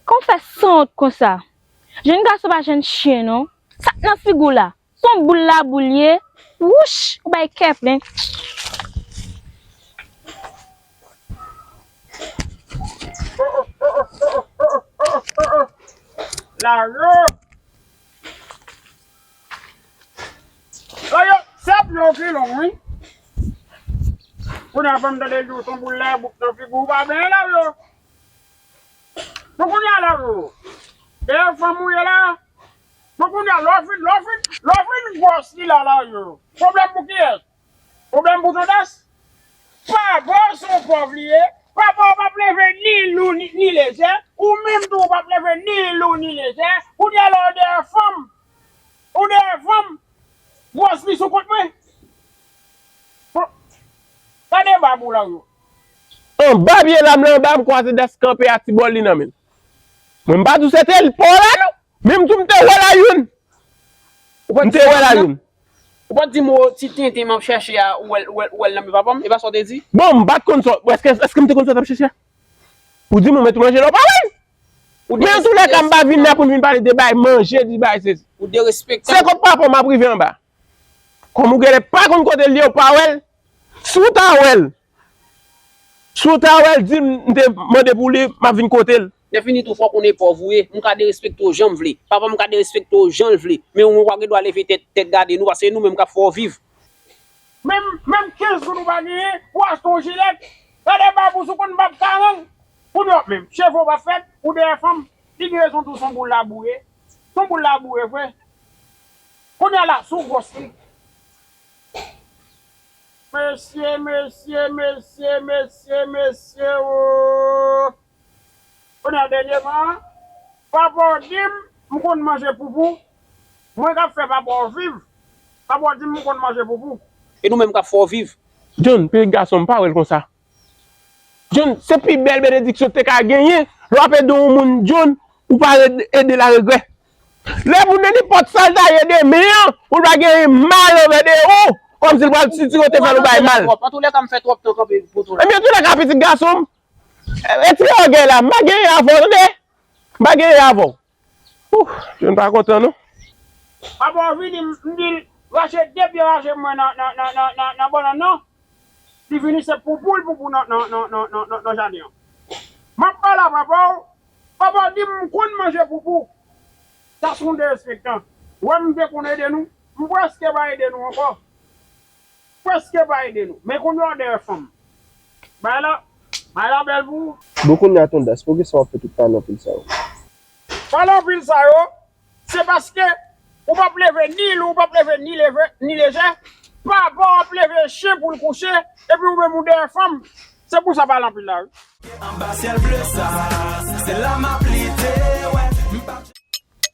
Kòw fè sanwont konsa jèn gason pa jèn chyen non sak nan figi w la son boul laboul ye wouch ou bay kè plen. Oyo sa plon ki long wi. Kounya fèm tande l di w son boul la bouk nan figi w pa benyen la bro. Pou kounya la bro. E ak fanm ou ye la. Pou kounya lè w fin lè w fin lè w fin gwòs sila la yo. Pwoblèm pou kiyès? Pwoblèm pou Todas? Pa bo w se yon pòv li ye, papa w pap leve ni lou ni lejè, ou menm tou ou pap leve ni lou ni lejè, kounya la ou dèyè fanm, ou dèyè fanm, gwòs li sou kont mwen. Gade bab ou la ou. Anba pye dam lan anba m kwè Todas kanpe a ti bòl li nan men l. Mwen m pa di w se te l pa w la non. Menm tou m te wè la youn. M te wè la youn. Ou pa t di m ou ti tenten m ap chache a ou wè l nan men papa m? E pa sa ou te di? Bon m pa t konn sa w Èske m te konn sa w t ap chache a? Ou di m ou mèt manje la ou pa wè l! Men antoulèka m pa vin la pou n vin pale de bay manje di bay sesi. Ou derespekte m. Se kot papa w m ap rive anba a. Kòm ou genlè pa konn kote l ye ou pa wè l, si w ta wè l, si w ta wè l di m m te mande pou li m ap vin kote l. Definitiv fòk ou ne pòv ou ye, m ka derespekte w jan m vle, papa m ka derespekte w jan l vle, men ou pa gen dwa leve tèt, tèt gade nou paske se nou menm k ap fè w viv. Menm, menm 15 goud ou pa genyen pou w achte yon jilèt, gade babous ou konn bab karang, kounye w menm cheve w pa fèt, ou dèyè fanm, li gen rezon tou son boul laboure, son boul laboure vre. Kounya la sou gwòs li. Mesye mesye mesye mesye mesye ooh Kounya dènyeman Papaw dim m konn manje poupou Mwen kap fè papaw viv Papaw dim m konn manje poupou. E nou menm kap fè w viv. John pitit gason m pa wèl konsa. John se pi bèl benediksyon te ka genyen lè wap ede yon moun John ou pa edel a regrè lè moun nan nenpòt sal ta ye demen an moun pa gen yon mal anvè de ou kòmsi li pral sitire ou te fèl yon bagay mal ebyen an tou lèka pitit gasonm retire ògèy la m pa gen yon avèw tande m pa gen yon avèw. Ooh John pa kontan non. Apa w vini m dil rache de pye rache mwen nan bannann nan li vini se poupou l poupou nan jaden an map pale a papa w papa w dim m konn manje poupou sa son derespektan wè m te konn ede nou m prèske pa ede nou ankò Preske pa ede nou. Men konnya w dèyè fanm. Bay la Bay la bèl pou ou. Bon konnya ton Das poukisa wap fè tout talan pil sa yo? Talan pil sa yo se paske ou pap leve ni lou ou pap leve ni leve ni lejè pa paw ap leve chen poul kouche epi ou menm ou dèyè fanm se pou sa palan pil la wi. Anba syèl ble sa, se la map lite, wè, m pa.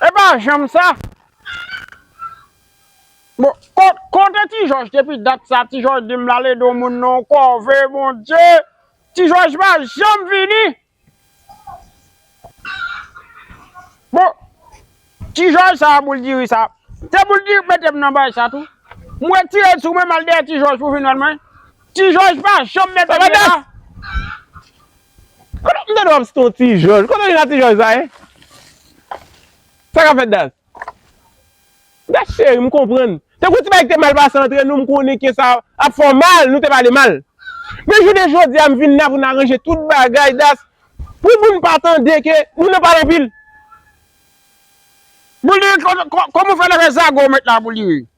Epa janm sa Bon kote ti jòj depi dat sa ti jòj dim lale do moun non kòve bondye ti jòj pa janm vini Bon ti jòj sa boul diri sa se poul t metem nan bagay sa tou m retirel sou mwen mal dèyè ti jòj pou vin wèl mwen ti jòj pa janm metem nan sa. Kote m tande w ap site yon ti jòj? Kote jina ti jòj sa ye? Sa k ap fèt das? Das cheri m konprann. Te gon ti bagay ki te mal pase antre nou m konnen ke sa ap fè w mal, nou te pale mal. Men jounen jodi a m vin la pou n aranje tout bagay das, pou moun pa tande ke nou nan pale anpil. Bouli, kòman w fè nan fè zago w met la Bouli?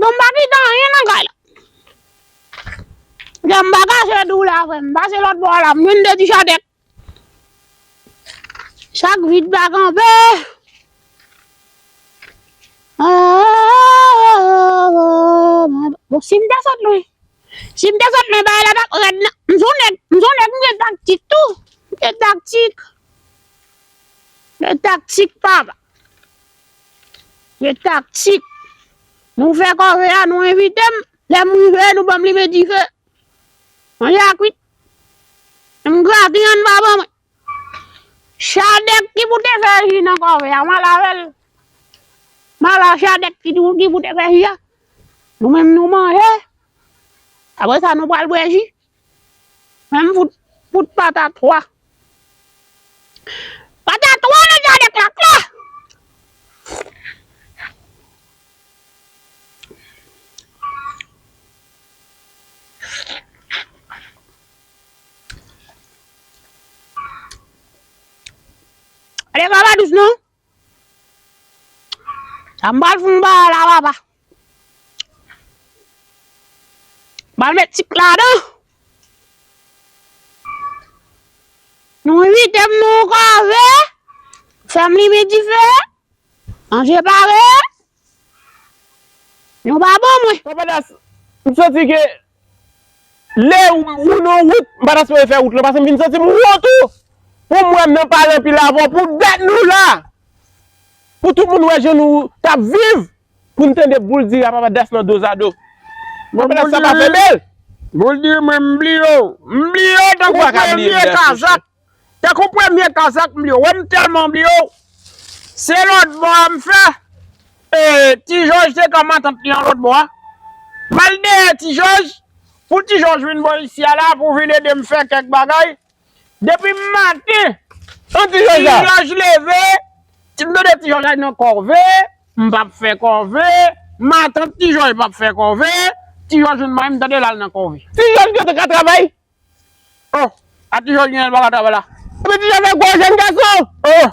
Don pa kite anyen nan kay la. Gade m pa kache di w la frè m. M pase lòt bò a la m jwenn 2 ti chantèt. Chak vit pa kanpe. Bon si m te sot lwen. Si m te sot lwen bagay la t ap rèd nan. M son nèg, m son nèg m gen taktik tou. M gen taktik. Gen taktik papa. Gen taktik. Nou fè kòve a, nou envite m. Lè m rive, nou ban m limen dife. Manje a kwit. E m graten an anba ban mwen. Chadèk ki pou te fè ji nan kòve a, m al avè l. M al a chadèk ki pou te fè ji a. Nou menm nou manje. Apre sa, nou pral bwè ji. Menm fout fout pata 3. Pata 3 nan jade klak la. Ale va va dous non. Sa m pral foun ba la papa. M pral met sik ladan. Nou envite m nou kòve. Fè m limen dife. Manje pare. Nou pa bon mwen. Papa das m santi ke lè ou nan wout m pa ta sipoze fè wout lan pase m vin santi m wont ou pou m wè m nan pale anpil avè w pou dat nou la pou tout moun wè jan nou t ap viv pou n tande boul diri a papa das nan dozado papa das sa pa fè bèl. Boul diri mwen m bliye w m bliye w tankou premye kazak. Tankou premye kazak m yo wè m tèlman byen w se lòt bò a m fè e ti jòj te ka matant li an lòt bò a m al dèyè ti jòj pou ti jòj vin bò isi a la pou vin ede m fè kèk bagay depi m maten ti jòj leve m tande ti jòj al nan kòve m p ap fè kòve matant ti jòj p ap fè kòve ti jòj vin bay m tande l al nan kòve. Ti jòj gen te ka travay Oh! A ti Jòl Nènèl pa ka travay la. Epi ti Jòl fè gwo jèn gason! Oh!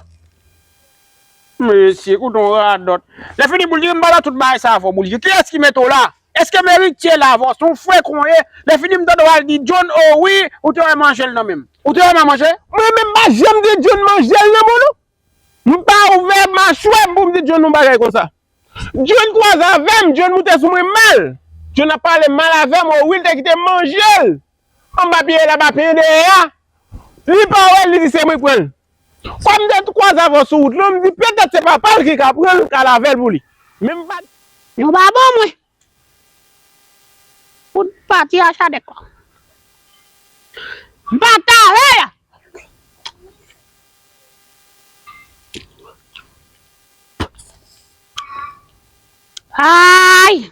Mesye, koute yon radòt. Lè fini boul di, m pale tout bagay sa avè w boul di. Kiyès ki mete w la? Eske m eritye la avè w? Se yon frekon w ye. Lè fini m tande w al di John oh wi, ou te wè manje l nan men m. Ou te wè m al manje? Mwen menm m pa janm di John manje l nan men w non. M pa ouvè machwè m pou m di John yon bagay konsa. John kwaze avè m, John moute sou mwen mal. John ap pale mal avè m, o wi l te kite m manje l anba pye e laba pye dèyè a. Li pa wè l, li di se mwen k pran l. Kòm m te kwaze avè w sou wout lan, m di petèt se papa l ki ka pran l, k al avè l pou li. Men m pa t. Nou pa ban mwen. Ou t pati a chadèk la. M pa t ale a. Aayy.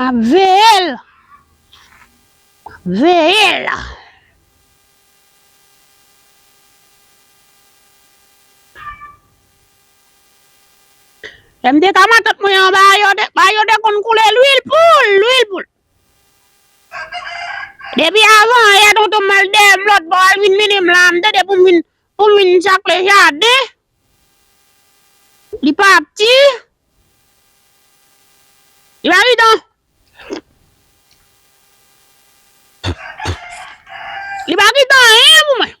Map veyel Map veyel. Lèm te ka matant mwen an ba yo te ba yo te konn koule lwil poul lwil poul. Depi avan yè tontonm al dèyèm lòt bò al vin minim la m tande poum vin Pou mun sa kle jaden li pa pti li pa bidon li pa bidon anyen pou mwen.